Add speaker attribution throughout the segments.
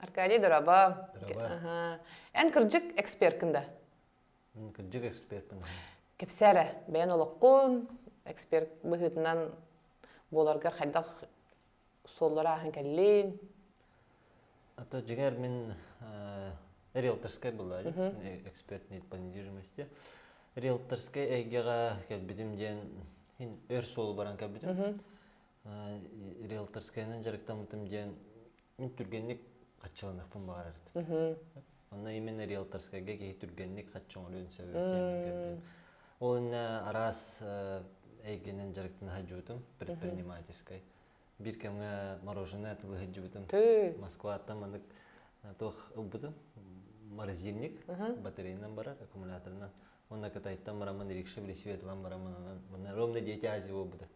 Speaker 1: Аркадий дораба. Дораба. Эн кырдьык эксперткын да? Кырдьык экспертпин. Кэпсээрэ, бэйэн олоххун эксперт быһыытынан буоларгар хайдах суоллара ааһан кэллин? Это жигар мен риэлторскай была экспертный по недвижимости. Риэлторскай эйгеҕэ кэлбитим диэн ин өр суол баран кэлбитим. Риэлторскайынан дьарыктаммытым диэн Мин түргэнник хаччаланахпын баҕарар этим. Онно именно риэлторскайга киһи түргэнник хачча оҥоруон сөбү диэн көрдүм. Ол иннэ араас эйгэнэн дьарыктана сылдьыбытым предпринимательскай. Биир кэмҥэ мороженое тылы сылдьыбытым. Москваттан маннык туох ылбытым. Морозильник батарейынан барар, аккумуляторынан. Уонна Кытайтан бараммын, рикша билисиэт ылан бараммын, манна ровно дети азия буолбута.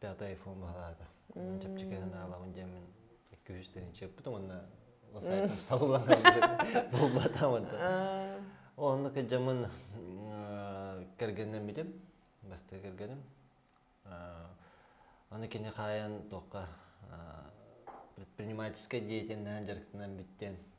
Speaker 1: пятый айфон баһылаата чэпчэки санаалабын диэмин икки үс тыһынчы эппитим уонна сайтым сабыллан булбата онто онно кыдьамын кэргеннэммитим басты кэргеним аны кини хаайан туохха предпринимательскай деятельнэһэн дьарыктанан бүттэн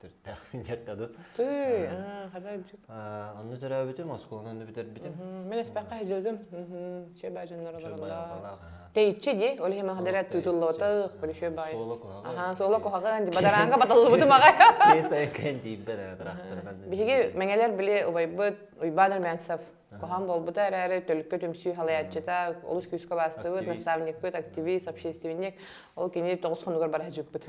Speaker 1: Төрүттээхпин диэххэ дуу. Тыы, хата илдьит. Онно төрөөбүтүм, оскуоланан бүтэрбитим. Мин эспэххэ хиждым. Чөбө дьоннордорула. Тейчи ди, ол иһи махадара тутуллотах, полишө бай. Суола куһаҕа. Аха, суола куһаҕан, бадаранга батыллыбытым аҕай. Тиэс айкын тиийбэт тырахтырган. Биһиги мэҥэлэр били убайбыт Уйбаан Армянцев Кохан болбута эрээри төлкө түмсүү халаяччыта, олус күүскэ бастыбыт, наставникпыт, активист, общественник. Ол кини тоҕус хонугар бара хажыппыт.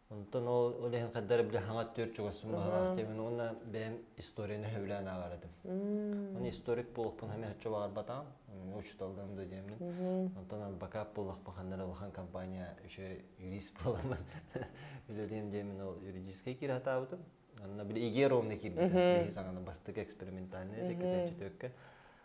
Speaker 1: Онтон ол ол иһин хардары били хаҥа төрт чугасым баһараахтым уонна бэйэм историяны сөбүлээн ааҕардым. Оны историк буолахпын хаме хачча баҕарбатаҕым. Учуталдан да диэмин. Онтон адвокат буолахпын ханнар алахан компания еще юрист буоламын. Үлэлием диэмин ол юридическай киир хатаабытым. Онно били ИГР ровно киирбитим. Саҥаны бастык экспериментальный кэтээччи төккө.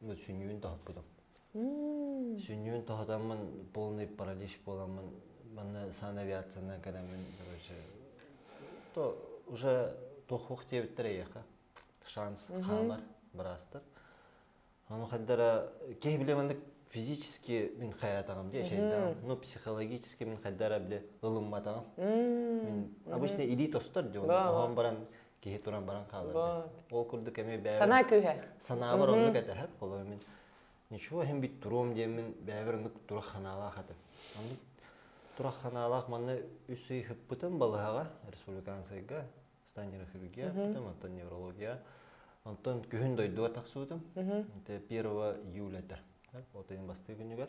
Speaker 1: сүнньүн тоһуппутум. Сүнньүн тоһутаммын полный паралич буоламмын манна санавиацияны кэлэммин короче то уже туохуох диэбиттэр эйиэхэ шанс хаамар быраастар ону хайдара киһи биле маннык физически мин хаятагам дии эчэйдагам ну психологически мин хайдара биле ылымматагам мин обычно илии тостор дион оһон баран киһи туран баран хаалар ол курдук эми бэйэбэр санаа күүһэ санаабар оннук этэ холобур мин ничего эһим бүт туруом диэммин бэйэбэр оннук турақ ханаалаах этим оннук турақ ханаалаах манна үс ый ыппытым балыһаҕа республиканскайга станнерохирургия ыппытым оттон неврология онтон күһүн дойдуга тахсыбытым это первого июля этэ вот айын бастыы күнүгэр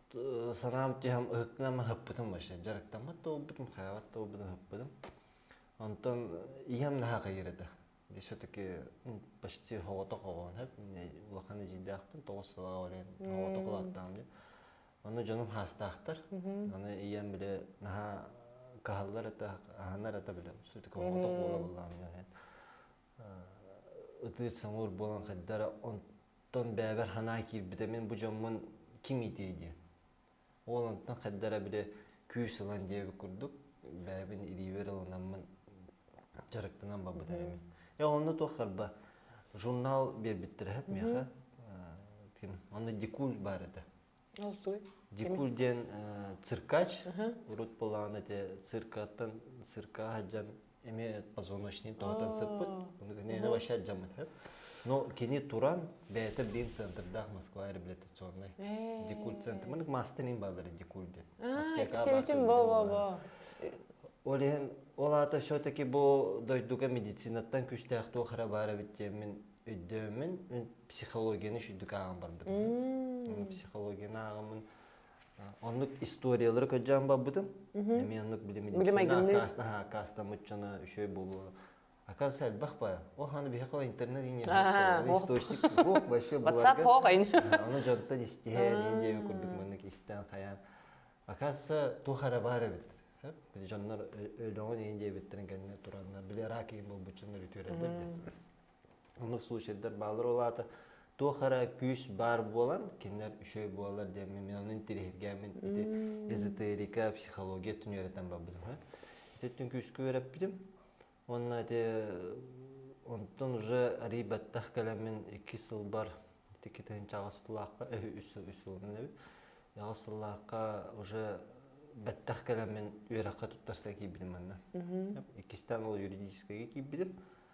Speaker 1: сараам түһэм ыһыктынан ыһыппытым вообще дьарыктаммат да буолбутум хайаабат да буолбутум ыһыппытым онтон ийэм наһаа хайыр этэ biz все-таки почти соҕотох оҕоһун эп улахан эдьиийдээхпин тоҕус сылаҕа баран соҕотох улааттаҕым дии аны дьонум хаастаахтар аны ийэм бile наһаа каһаллар это аһанар это бile все-таки соҕотох буола буоллаҕым ытыыр саҥуур буолан хайдара Оттон бэйэбэр санаа киирбитэ мин бу дьоммун ким иитиэй диэн. Ол онтон хайдара били күүс ылан диэбит курдук бэйэбин илиибэр ылынаммын дьарыктанан барбыта эми. Э онно туох харба журнал биэрбиттэр эһэт миэхэ. Ким онно дикуль баар этэ. Дикур диэн циркач, урут булаан эти циркаттан цирка аһдьан эмиэ позвоночный тоһутан сыппыт. Ону кэннэ вообще аджаммыт. Но кини туран бэйэтэ биин центрдаах Москва реабилитационный дикуль центр. Маны мастан им баалары дикуль диэн. Стереотип бо бо бо. Ол иһин ол аата все-таки бу дойдуга медицинаттан күстээх туох эрэ баар эбит диэммин өйдөөмүн психологияны үчүйдүк ааҕан барбытым психологияны ааҕаммын оннук историялары көдьөөн барбытым эмиэ оннук били медицина аккаастаммыт дьоно үчүгэй буолуо оказывается элбэх бара ол аны биһиэхэ интернет иннибит источник буох вообще whatsapp хоох аны дьонтон истиһэн ин диэби курдук маннык истэн хайаан оказывается туох эрэ баар эбит дьоннор өлөҕүн ин диэбиттэрин кэннэ тураннар били ирак болбуччуннар үтүөрэллэр Омук случайдар баалар ол аата туох эрэ күүс баар буолан кинилэр үчүгэй буолалар диэн мен ону интириэһиргээмин ити эзотерика психология түнүөрэтэн барбытым ити түн күүскө үөрэппитим уонна ити онтон уже арий баттах кэлэмин икки сылбар ити тыһынча аҕыс сыллаахха үс үс сылынан эбит аҕыс сыллаахха уже бэттэх кэлэмин үөрэххэ туттарса киирбитим манна иккистээн ол юридическайга киирбитим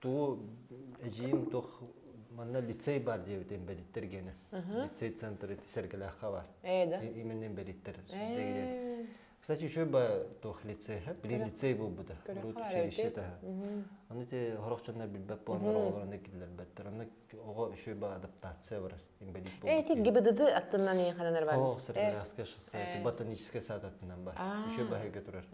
Speaker 1: Туу эдьиим туох манна лицей бар диэбитин бэриттэр гені. Лицей центр эти сэргэлээххэ бар. Именно бэриттер. Кстати, учеба туох лицейха, блин лицей буолбута. Урут училище таха. Оны те хорохчонна билбет буолар олорны киллербеттер. Оны оҕо учеба адаптация барар. Эти ГИБДД аттынан ееханан арбан. О, Среднеарабское шоссе, это ботаническое сад аттынан бар. Еще баһыга турар.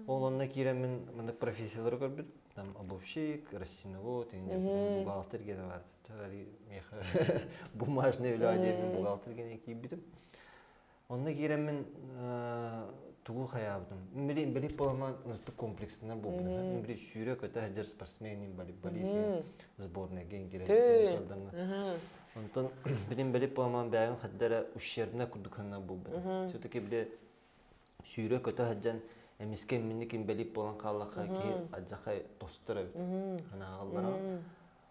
Speaker 1: Ол онна киирэн мин мында профессиялары көрбүт. Там обувщик, растеновод, бухгалтер где-то бар. Меха бумажный үле диэн бухгалтер киирбитим. Онно киирэммин тугу хайаабытым билин билик буолама ыртык комплекстанар буолбутум били сүүрэ көтө сылдьар спортсмен болесин сборныйга киирэн сырданна онтон билин билик буолама бэйэм хаддара ущербна курдук санна буолбут все таки били сүүрэ көтө сылдьан эмискэ минники билик болан хааллаха киһи адьахай тостор эбит анааллара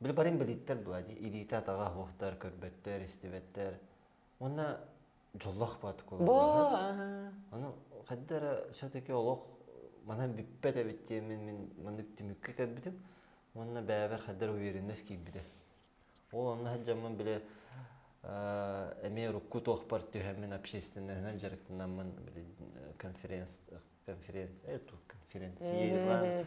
Speaker 1: били барин билиттер дуа ди илиите атаҕа оһуохтар көрбөттөр истибэттэр уонна дьоллох бат кула ону хадда эрэ все-таки олох манан бүппэт эбиттиэ мин мин маннык түмүккэ кэлбитим уонна бэйэбэр хаддар уверенность киирбитэ ол онно саджаммын били эмиэ урукку туохпар түһэммин общественныһынан дьарыктанаммын били конференц конференция э, конференция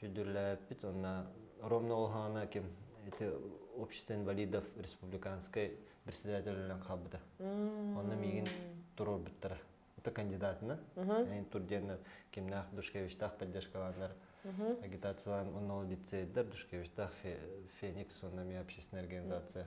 Speaker 1: сүдүрлээппит уонна ровно олоһоона ким ити общество инвалидов республиканскай председателинэн хаалбыта онно миигин туруорбуттара это кандидатынан эн тур диэн кимнээх душкевичтаах поддержкалааннар агитациялаан уонна ол лицейдер душкевичтаах феникс уонна ми общественная организация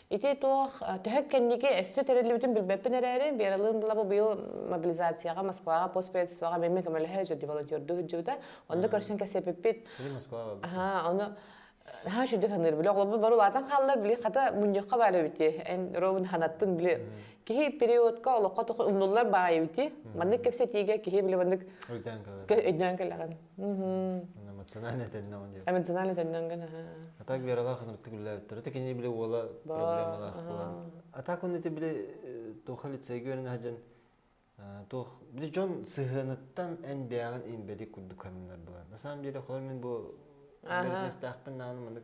Speaker 1: Ити туох төһө кэнники өссө тэриллибитин билбэппин эрээри, Вералыын былаба быйыл мобилизацияҕа, Москваҕа, постпредствоҕа бэмми көмөлөһө өтөр деволонтердуу сылдьыбыта. Онно көрсөн кэсиэппиппит. Аха, ону наһаа үчүгдүк саныыр биле оҕолорбут бары улаатан хааллар били хата мунньахха баара эбити эн робин ханаттын били киһи периодка олоххо туху умнуллар баайы эбити маннык кэпсэтиигэ киһи били маннык өйдөөн кэллэҕин эмоциональный этэннэҕин диэн эмоциональный этэннэҕин гын а так вераҕа ханныктык үллээбиттэр это кине били уола проблемалаах була а так онно это били туох лицейге өрін хаджан туох били дьон сыһыаныттан эн бэйэҕин имбэдик курдук ханынар була на самом деле хор мен бу бэрднэстээхпин нааны манык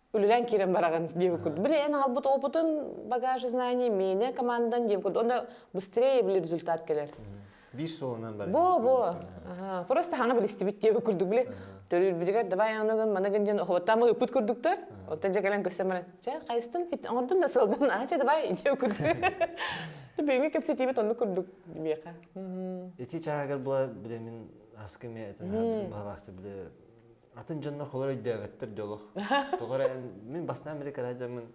Speaker 1: үлэлээн киирэн бараҕын диэбит курдук. Били эн аҕалбыт опытын, багаж знаний, меня, командан диэбит курдук. Онно быстрее били результат кэлэр. Биир суолунан барар. Бо, бо. Просто хана билистибит диэбит курдук били. Төрүүрбүтүгэр давай онугун, манагын диэн охоттаама ыппыт курдуктар. Оттон дьэ кэлэн көстөн баран, чэ, хайыстын, оҥордун да сылдын, аа чэ давай диэбит курдук. Бүгүҥҥү кэпсэтиибит оннук курдук диэхэ. Ити чаагар була билемин аскыме этен баһалаахты биле атын дьоннор холор өйдөөбөттөр дьэ олох тоҕо эрэ мин бастаан били кыра дьоммун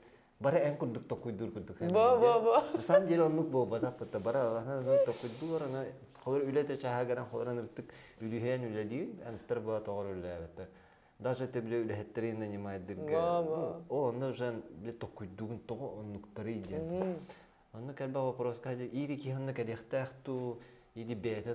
Speaker 1: бары эн курдук токкуйдуур курдук бо бо бо на самом деле оннук буолбатахпыт да бара аллаһынан токкуйдуур аны холор үлэтэ чааһа гынан холоран ыртык үлүһүйэн үлэлиир анттар баа тоҕор үлэлээбэттэр даже те биле үлэһиттэрин нанимайдыга онно уже биле токкуйдуугун тоҕо оннуктары диэн онну кэлбе вопроска ири киһанна кэлиэхтээх туу иди бэйэтэ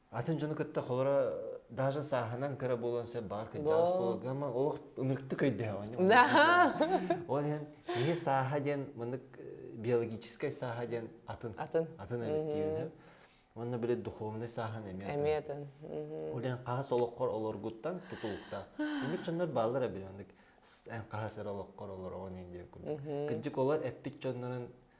Speaker 1: Атын дьону кытта холоро даже сааһынан кыра буолуон сөп баҕар кырдьаҕас буолуон ама олох ыныртык өйдөһөҕүн ол иһин киһи сааһа диэн маннык биологическай сааһа диэн атын атын атын эбиттиир Онно били духовный сааһын эмиэ Эмиэ атын. Ол эн хаһыс олоххор олоргуттан тутулуктаах. Бүгүн чоннор бааллара биле оннук эн хаһыс эр олоххор олороҕун ин диэккун. Кырдьык олор эппит чоннорун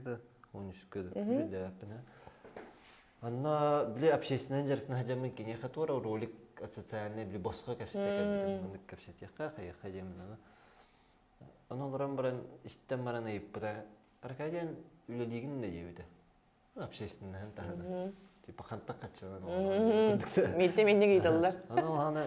Speaker 1: да он үскэ да жүдээппинэ Анна били общественный дьарыктан хадьаммын киниэхэ туора ролик социальный били босхо кэпсэтэ кэлбитим маннык кэпсэтиэххэ хайыха диэминана ону олорон баран истэн баран ыйыппыта Аркадиан үлэлиигин да диэбитэ общественныһын таһынан типа хантан хаччынан Минте минник ыйталлар. Ону улаана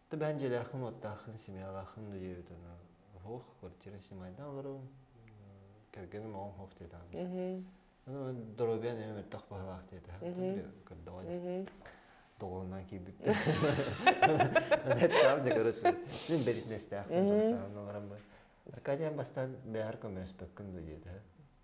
Speaker 1: Түбэһэн дьиэлээххин, уоттааххын, семьялааххын өйөөбүт ана оһох, квартира снимайдан олорон кэргэним оҕоҥ оһох диэтэ аны доруобуйан эмэ мөлтөх баһылаах диэтэ көрдөҕө дии доҕорунаан киирбиппин там дьэ короче мин беритнестээхпин толтаан олорон Аркадиан бастан бэһэр көмөспөккүн дуу диэтэ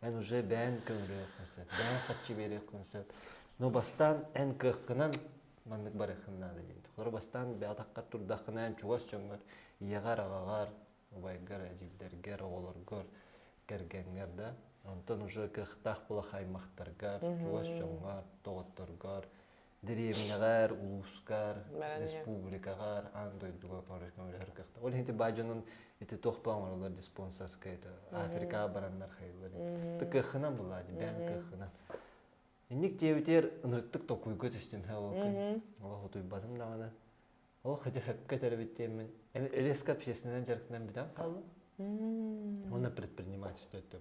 Speaker 1: эн уже бэйэн көмүрүөххүн сөп бэйэн харчы биэриэххин сөп но бастаан эн кыаххынан маннык барыаххын наада диэн холоро бастаан бэйатаххар турдаххына эн чугас дьоҥҥор ийэҕэр аҕаҕар убайгар эдьиийдэргэр оҕолоргор кэргэҥҥэр да онтон уже кыахтаах булах аймахтаргар чугас дьоҥҥор доҕотторгор дэриэбинэҕэр, улуускар, республикаҕар аан дойдуга көмөлөһөр кыахтаах. Ол иһин ити баай дьонун ити туох ба оҥороллор диспонсорскай это Африкаҕа бараннар хайыллар это кыаххынан былаат бэйэҥ кыаххынан инник диэбитигэр ынырыктык толкуйга түстүм һэ ол күн олох утуйбатым даҕаны Ол хотя хөпкө төрөбүт диэммин резко общественнай дьарыктанан бүтэн хаалла. Уонна предпринимательство өттө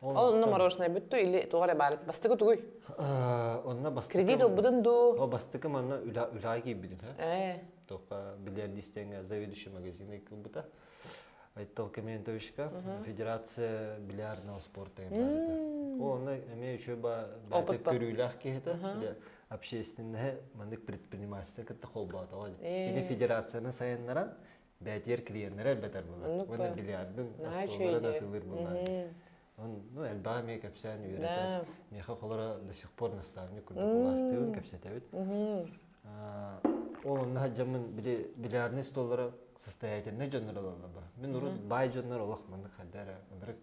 Speaker 1: Ол мороженое бүтту или туга эрэ баарыт бастыгы тугуй? Онна бастыгы Кредит ылбытын дуу? О бастыгы манна үла үлаға келбедин хэ. Тоқа билерді истенге заведующий магазине кылбыта. Айттал комендовичка федерация биллиардного спорта. О, она имеет еще ба көрүүләх киһитэ. общественноһы маннык предпринимательство кытта холбоотоҕо ини федерацияны сайыннаран бээтиэр клиеннэрэ элбэтэр булар уонна биллиардын остуолларын атылыр булар ну элбэҕи эмиэ кэпсээн үөрэтэр миэхэ холоро до сих пор наставник курдук улаастыыбын кэпсэтэбит ол онно сылдьаммын били биллиардный столлара состоятельный дьоннор ололлор бу мин урут бай дьоннор олох маннык хайда эрэ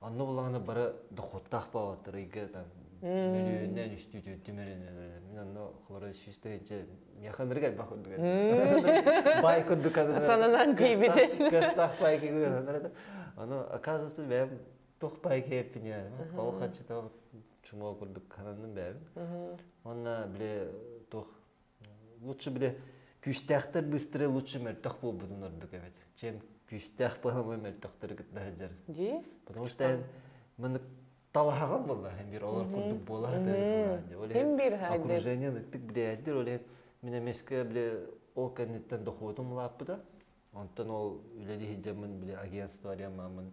Speaker 1: Онно булаҕына бары дохуоттаах баалаттар ыйга там мөлүйүөннээн үстүүтүн түмэринэн мин онно хлород сүүс тыһыынча миэхэ ынырык элбэх курдук бай курдук сананан тиийбите кыстаах байки гынан ону оказывается бэйэм туох байки эппиния хау хаччыта чумол курдук хананным бэйэм онна биле туох лучше бile күүстээхтэр быстрые лучше мөлтөх буолбутун ордук эбит чем күүстээх баһамы мөлтөхтөрү кытта сылдьар дии потому что эн маны талаһаҕын була эмир олор курдук буолаһытыыр окружение ныктык билээдир оле мен эмеске биле ол кэнниттэн дохуотум улааппыта онтон ол үлэлиһи жамын биле агентство ариамамын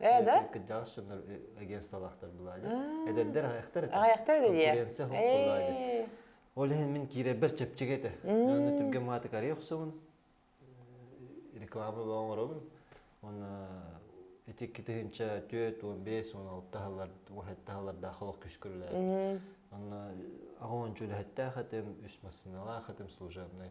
Speaker 1: Ээ да? Кырдьаҕас дьоннор агентстволаахтар былаанын. Эдэрдэр аҕайахтар этэ. Аҕайахтар этэ диye. Конкуренция хоһ былаанын. Ол иһин мин киирэрбэр чэпчэки этэ. Онно түргэн маатыкарыйа охсубун. Реклама оҥоробун. Уонна ити икки тыһыынча түөрт, уон бес, уон алта аһылар, уон хатта аһылардаах олох күс көрүлээх. Онно аҕа ончу үлэһиттээх этим, үс массыыналаах этим служебнай.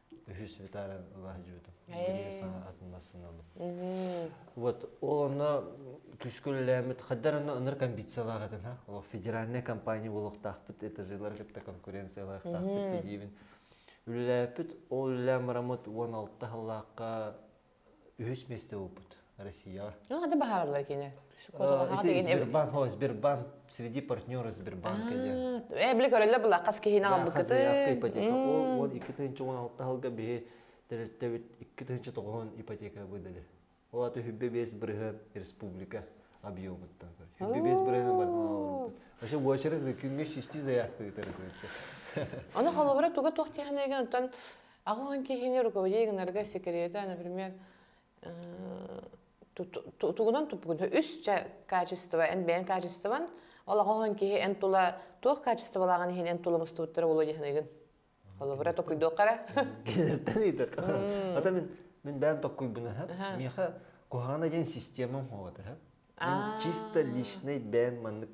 Speaker 1: үһүс бүтаары ылаах жуутум биир саҥа атын массыына ылым вот ол онно күүскэ үлэлээммит хаддар онно ыныр комбициялаах этим ха ол федеральная компания буолуохтаахпыт это жилары кытта конкуренциялаахтаахпыт дидибин үлэлээппит ол үлэлээн марамыт уон алта халлаахха үһүс месте опыт Россияҕа. Ну, это баһаарлар кине. Ити Сбербанк, о, Сбербанк, среди партнера Сбербанк кэлен. Э, биле көрөллө була хас киһине албыкыты. Хазыяска ипотека. Ол 2016 алга биһи дәреттебит 2009 ипотека быдалыр. Ол аты хүббе бес бырыһы республика объемыттан көр. Хүббе бес бырыһы бартан алыр. Вообще bu очередь күммеш исти заявка итер. Оны холобура туга тох тиханайган Аҕылын киһини руководей гынарга секрета, например, тугунан туппугун үс ча качество эн бэйэн качествон ол аҕаһын киһи эн тула туох качестволааҕын иһин эн тула мустубуттара болуо диһаныгын холобура токуйдуоххара киниттэн ыйдырка ата мин мин бэйэн токкуйбуна миэхэ куһаҕана диэн система хоҕата чисто личный бэйэн маннык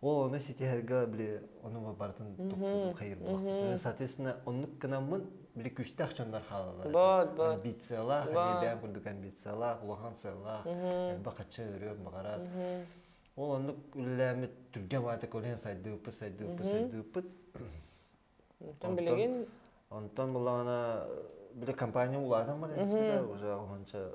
Speaker 1: О, ону ситиһэргэ били онуга барытын туппутум хайырбахпытын. Соответственно, оннук кынаммын били күүстээх дьоннор хаалалар. Бот, бот. Амбициялаах, эмиэ бэйэм курдук амбициялаах, улахан сыаллаах, элбэх ачча өрүөн баҕарар. Ол оннук үлэлээммит түргэн ваата көлөйөн сайдыыппыт, сайдыыппыт, сайдыыппыт. Оттон билигин Онтон булаана били компания улаатан баран испит да уже уһунча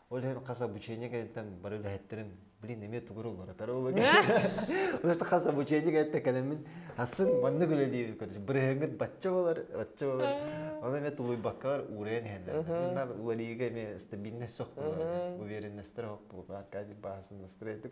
Speaker 1: Ол иһин хас обучение кэнниттэн бары үлэһиттэрим, блин, эмиэ тугуру уларытар Улаатан хас обучение кэнниттэн кэлэммин хассын маннык үлэлиибит көрдүм. Бырыһыҥҥыт бачча болар, бачча болар. Оны эмиэ тулуйбаккар уурайан иһэллэр. Уларыйыыга эмиэ стабильность сох болар. Уверенносттар хох булар. Аркадий баасын настроение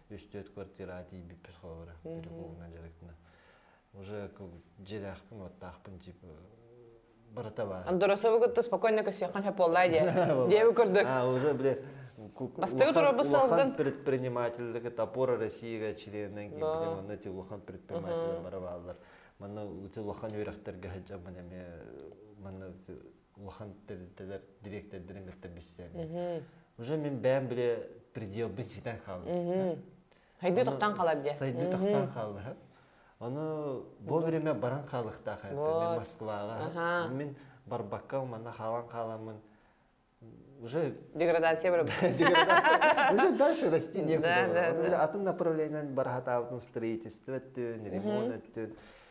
Speaker 1: үс-төрт квартира тиийбиппит холобура переулкаҥа дьарыктана уже дьиэлээхпин уоттаахпын типа барыта баар доросову кытта спокойно көсүөххин хапуоллаа диэ диэбу курдук уже бля бастыгы турабы салгын предпринимательдык топора россияга членнен ким онно ти улахан предприниматель барабаллар манна ти улахан үрэхтерге хажаман эме манна улахан тэрилтэлэр дириэктэрдэрин кытта билсээбин. Уже мин бэйэм биле пределбын ситэн хаалбыт. Хайдыы тохтан қалар дьэ. Сайдыы тохтан хаалыһа. Оны вовремя баран қалыктаха. Мен Москваға. Мен барбакка мана халан қаламын. Уже деградация бара. Деградация. Уже дальше расти некуда. Атын направлениен барахатаабытым строительство өттүн, ремонт өттүн.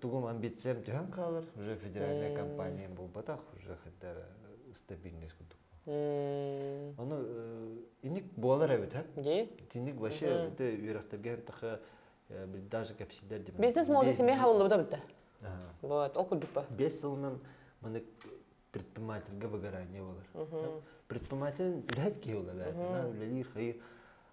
Speaker 1: тугум амбициям түһэн хаалар уже федеральная компания буолбатах уже хотя стабильность курдук ону иник буолар эбит итинник вообще үөрэхтэргэ таха даже кэпсиилэр деп бизнес молода семья хавыллыбыта бітті вот ол курдук ба бес сылынан маны предпринимательге выгорание болар предприниматель үлэһит киһи бола бээтэ үлэлиир хайы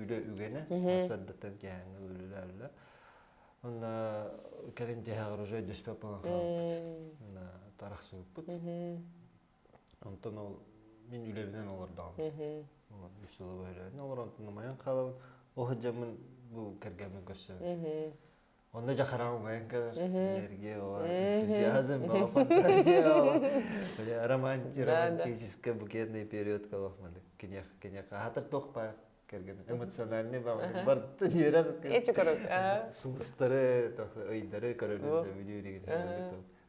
Speaker 1: үлэ үгэнэ саддатар дьэһэҥэ үлүләллэ онна кэлин дьэһэҕэр уже дөспөп болон хаалбыт тарахсыыппыт онтон ол мин үлэбинэн олордоҕум олор үс сыла бөлөөнө олор онтон майан хаалабын ол сыдьаммын бу кэргэммин көрсөбүн Онно дьахараҕа убайын көрөр энергия ол энтузиазм баҕа фантазия ол романтик романтический букетный период колох маннык кинех кинех хаатар туох баар кэргэн эмоциональный баҕа бартын үөрэх сулустары ыйдары көрөлүн сөбүлүү иригин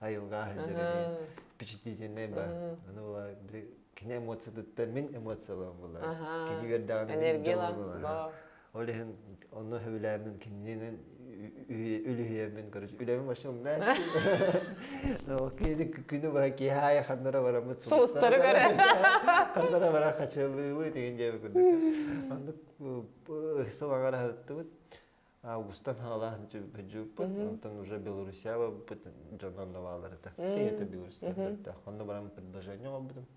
Speaker 1: айылҕа сылдьар впечатлительный ба аны была кини эмоциятыттан мин эмоциялаан була кини бердәгән энергия була Ол иһин онно сөбүлээммин кининэн үлүһүйэммин короче үлэбин вообще умнаач күнү быһа киһи аайы ханнара бараммыт суустары көрө ханнара барар хачылыыбыт деген диэбит курдук оннук сылаҥара сырыттыбыт августан хаалаан бөдьүүппут онтон уже белоруссиябаппыт дьонон новаларыта это белоруссия көрдөөх онно баран предложение оҕорбутум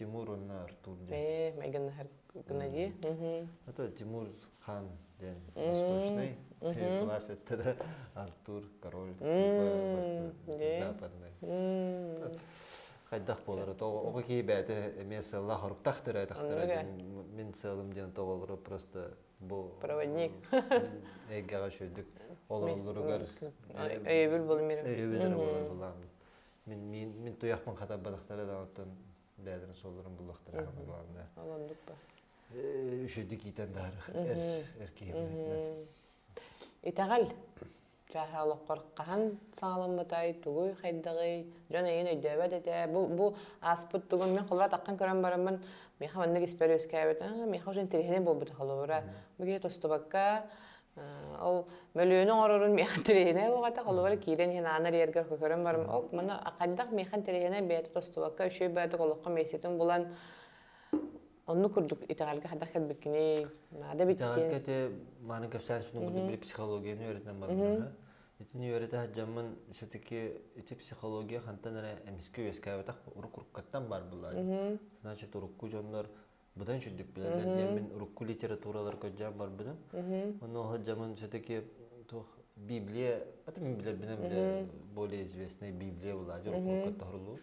Speaker 1: Тимур уонна Артур диэн. Ээ, Меган Гнади. Это Тимур Хан диэн восточный глаз это да Артур король типа западный. Хайдах болар оҕо кии бэйте эмиэ сылла хоруктах түрәтахтара мин сылым диэн тоголору просто бу проводник эйгэҕэ шөйдүк олоруллуругар өйөбүл болмир өйөбүл болар Мин мин мин туйахпын хатар бадахтары даҕаттан бэйэлэрин суолларын булуохтара баалынна. Олондук ба. Үшөдү киитен дары эр эр киһи. Итаҕал чаһа олоққор хаһан саҕаламмытай, тугуй хайдаҕый, дьон эйин өйдөөбөт этэ. Бу бу ааспыт тугун мен холура таққан көрөн бараммын меха маннык испер өскәбет. Меха уже интересный буолбута халура. Бу кие тостубакка Ол мөлүөнү оҥорорун миэхэ тириэнэ буолбатах, ол бары киирэн иһин аанар иэргэр көрөн барым, ол мана хаддах миэхэ тириэнэ бэйэтэ тостубакка үчүгэй бэйэтэ олоххо миэстэтин булан онну курдук итэҕэлгэ хаддах кэлбиккиний наада эбиккин итэҕэлгэ те маны кэпсээспитин курдук били психологияны үөрэтэн барбыта итини үөрэтэ сылдьаммын все-таки ити психология хантан эрэ эмискэ үөскээбэтэх уруккуттан бар буолла значит урукку дьоннор быдан сүрдүк билэллэр диэммин урукку литератураларга дьаам барбытым ону сылдьамын все-таки туох библия это мен билэрбинэн билэ более известная библия была уруккуга тоһурулуу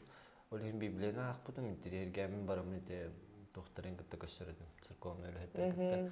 Speaker 1: ол иһин библияны аахпытым интириэргээммин бараммын ити туохтарын кытта көрсөр этим церковный үлэһиттэр кытта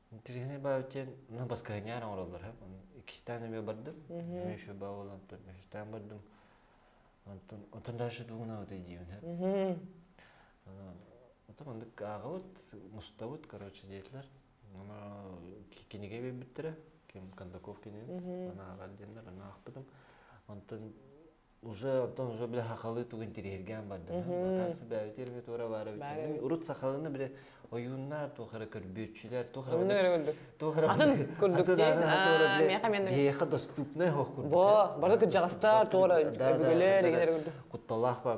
Speaker 1: Интересный баабыт диэн ну баскыһаньаар оҥороллор һэ иккистээн эмиэ бардым эмиэ еще баа буолантан үһүстээн бардым онтон отон дальше дугунабыт идиим һэ отон мандык аагабыт мустабыт короче диэтилэр ама кинигэ бербиттэрэ ким кондаков кинини анааҕар диэннэр анаахпытым онтон уже оттон уже бile хахалыы тугун тириһиргээн бардым латан сыбаабити эрми туора баара битин урут сахалына бile ойууннар туох эрэ көрбүөччүлэр туох эрэ туох эрэ атын курдук мияха мен биэха доступнай хох курдук бо бары кырдьаҕастар туора өбүгэлэр куталаах бар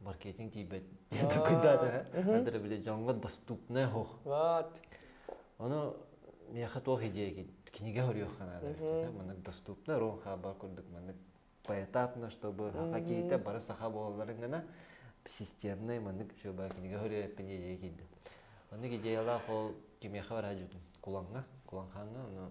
Speaker 1: маркетинг тиийбэт дьоҥҥо дьоҥҥо доступная оһох вот ону миэхэ туох идея кинигэ көрүөххэ наада маннык доступна рон хаабар курдук маннык поэтапно чтобы хакиите бары саха буолалларын гана системный маннык чуба кинигэ көрүөппүн идея киирдим маннык идеялаах ол кимиэхэ бараа жутум куланга куланханна ону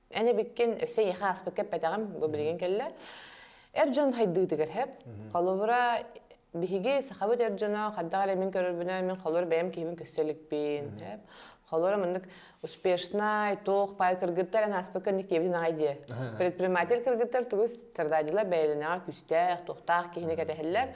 Speaker 1: Эн эбиккин өссө эйиэхэ ааспыкка эппэтэҕим, бу билигин кэллэ. Эр дьон хайдыытыгар хэп. Холобура, биһиги сахабыт эр дьоно хайдах эрэ мин көрөрбүнэн мин холобур бэйэм киһибин көрсө иликпин. Хэп. Холобура маннык успешнай, туох пай кыргыттар эн ааспыкка инник диэбитин аҕай диэ. Предприниматель кыргыттар тугу стрададилар бэйэлэнэҕэр күүстээх, туохтаах киһини кэтэһэллэр.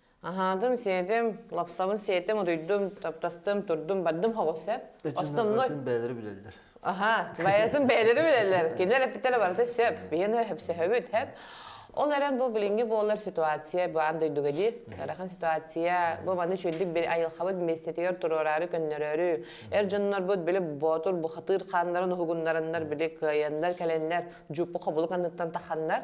Speaker 1: Аһаатым, сиэтим, лапсабын сиэтим, утуйдум, таптастым, турдум, бардым хоҕо сөп. Основной. бэйэлэрэ билэллэр. Аха, бэйэтин бэйэлэрэ билэллэр. Кинилэр эппиттэрэ барыта сөп. Биэны хөпсөһөбүт, хөп. Ол эрэн бу билиҥҥи буолар ситуация баан дойдуга дии. Ырахан ситуация бу маны үчүгдүк айылхабыт миэстэтигэр туруораары көннөрөрү эр дьоннорбут били боотур бухатыыр хааннарын уһугуннараннар били кыайаннар кэлэннэр дьуппу хобулук анныттан таханнар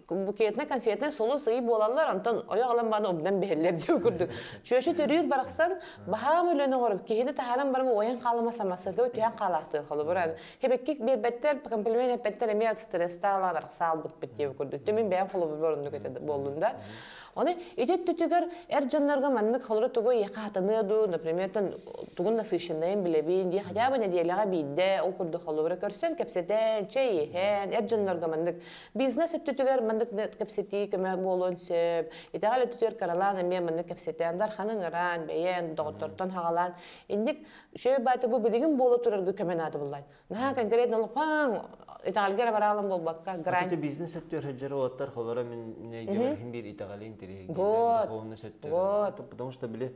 Speaker 1: букетнай конфетнай сулус ый буолаллар онтон ойох алан бааны обдан биһэллэр диу курдук чүөшү төрүүр барахсан баһаам өлөн оҕор киһини таһааран баран ойын хаалыма самасырга үтүһэн хаалаахтыыр холобуран хебеккик бербеттер комплимент эппеттер эми от стресста ылаан арахсаалбыт бит диу курдук түмүн бэйэм холобур оннук этэ боллунда оны ити түтүгэр эр дьоннорго маннык холору тугу яхатаны ду например тугун насыщеннайын билебин ди хотя бы неделяға биирде ол курдук холобура көрсөн кэпсэтэн чэй иһэн эр дьоннорго маннык Бизнес өттүтүгэр маннык кэпсэтии көмө буолуон сөп. Итэҕэл өттүтүгэр каралаан эмиэ маннык кэпсэтэн, дарханы ыҥыран, бэйэн, доҕоттортон хаҕалаан, инник шөй баайты бу билигин буола турарга көмө наада буллай. Наһаа конкретно лапаан итэҕэлгэ эрэ бараалын буолбакка грань. Ити бизнес өттүгэр сылдьар уолаттар холоро мин минэйгэмэр хин биир итэҕэли интэриэһин дьоннорун духовный сөттөр. Потому что били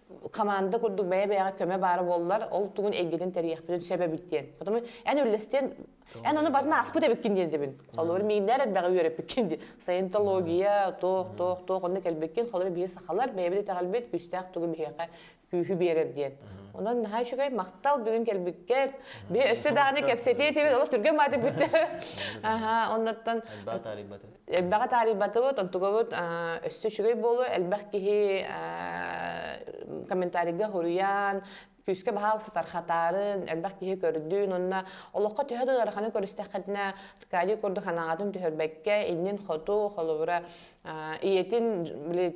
Speaker 1: команда курдук бэйэ-бэйэҕэ көмө баара буоллар, ол тугун эйгэтин тэрийэхпитин сөп эбит диэн. Потом эн үллэстиэн, эн оны барын ааспыт эбиккин диэн дэбин. Холобур, мииннэр элбэҕи үөрэппиккин ди. Саентология, туох туох туох онно кэлбиккин, холобур биир сахалар бэйэбит итэҕэлбит күстээх тугу биһиэхэ күүһү биэрэр диэн. Онон наһаа үчүгэй махтал бүгүн кэлбиккэр. Би өссө даҕаны кэпсэтиэ этибит, олох түргэн мааты бүтtä. Аха, оннуттан элбэҕи таарыйбатыбыт, онтугабыт өссө үчүгэй буолуо, элбэх киһи комментарийга хоруйаан, күүскэ баһаал сытархатаарын, элбэх киһи көрдүүн, онно олоххо төһө да ыараханы көрүстэххитинэ, Аркадий курдук ханаҕатын түһэрбэккэ, иннин хоту, холобура, ийэтин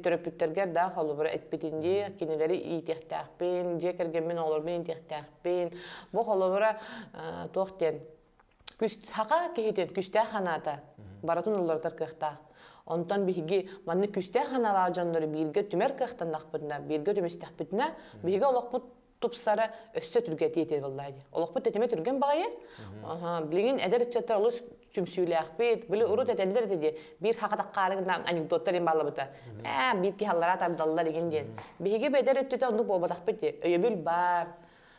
Speaker 1: төрөппүттэргэр да холобура этпитин дии, кинилэри иитиэхтээхпин, дьиэ кэргэммин, оҕолорбун иитиэхтээхпин, бу холобура туох диэн Күс саха киһитин күстээх ханаата барытын уларытар кыахтаах. Онтон биһиги маннык күстээх ханалаах дьоннору бииргэ түмэр кыахтаннахпытына, бииргэ түмүстэхпитинэ, биһиги олохпут тупсара өссө түргэтии этиэ буоллаҕа дии. Олохпут тэтимэ түргэн баҕайы. Билигин эдэр ыччаттар олус түмсүүлээхпит, били урут этэллэр этэ дии, биир хахатах хаары анекдоттар им баллыбыта. Ээ, биир киһи аллараа тардаллар игин диэн. Биһиги бэдэр өттүтэ оннук буолбатахпыт дии. Өйөбүл баар.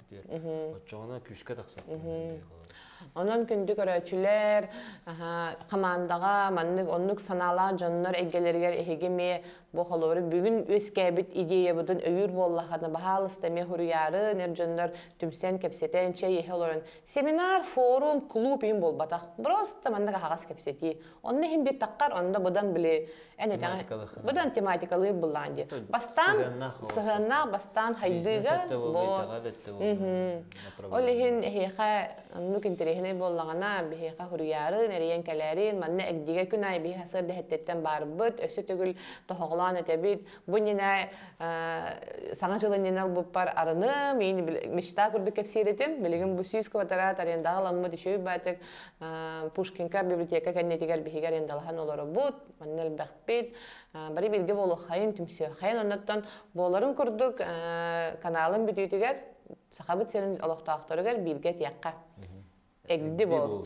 Speaker 1: эппитигэр оччоҕуна күүскэ тахсар онон күндү көрөөччүлэр хамаандаҕа маннык оннук санаалаах дьоннор эйгэлэригэр эһиги эмиэ бу холобур бүгүн үөскээбит идеябытын өйүүр буоллаххына баһаалыста эмиэ хуруйаарын эр дьоннор түмсэн кэпсэтэн чэй иһэ олорон семинар форум клуб иһин буолбатах просто маннык аһаҕас кэпсэтии Онно иһин беттаххар, онно быдан били, эн быдан тематикалыыр буллаан дии. Бастаан сыһыаннаах бастаан хайдыыга Ол иһин эһиэхэ оннук интэриэһинэй буоллаҕына, биһиэхэ хуруйаарын, эрийэн кэлээрин, манна эгдигэ күн аайы биһи сыр дэһэттэртэн барбыт, өссө төгүл тоһоҕолоон этэбит, бу иннинэ саҥа дьыл иннинэ ылбыппар арыным, мечта курдук кэпсиир этим, билигин бу сүүс квадрат арендаҕа ламмыт үчүгэй баатык Пушкинка библиотека кэннитигэр биһигэр ендалаһан олорубут, манна элбэхпит, бары бирге болуохайын, түмсүөхайын, оннаттан буоларын курдук каналын бүтүүтүгэр Сахабыт сирин олохтоохторугар бирге тиэххэ. Эгди бол.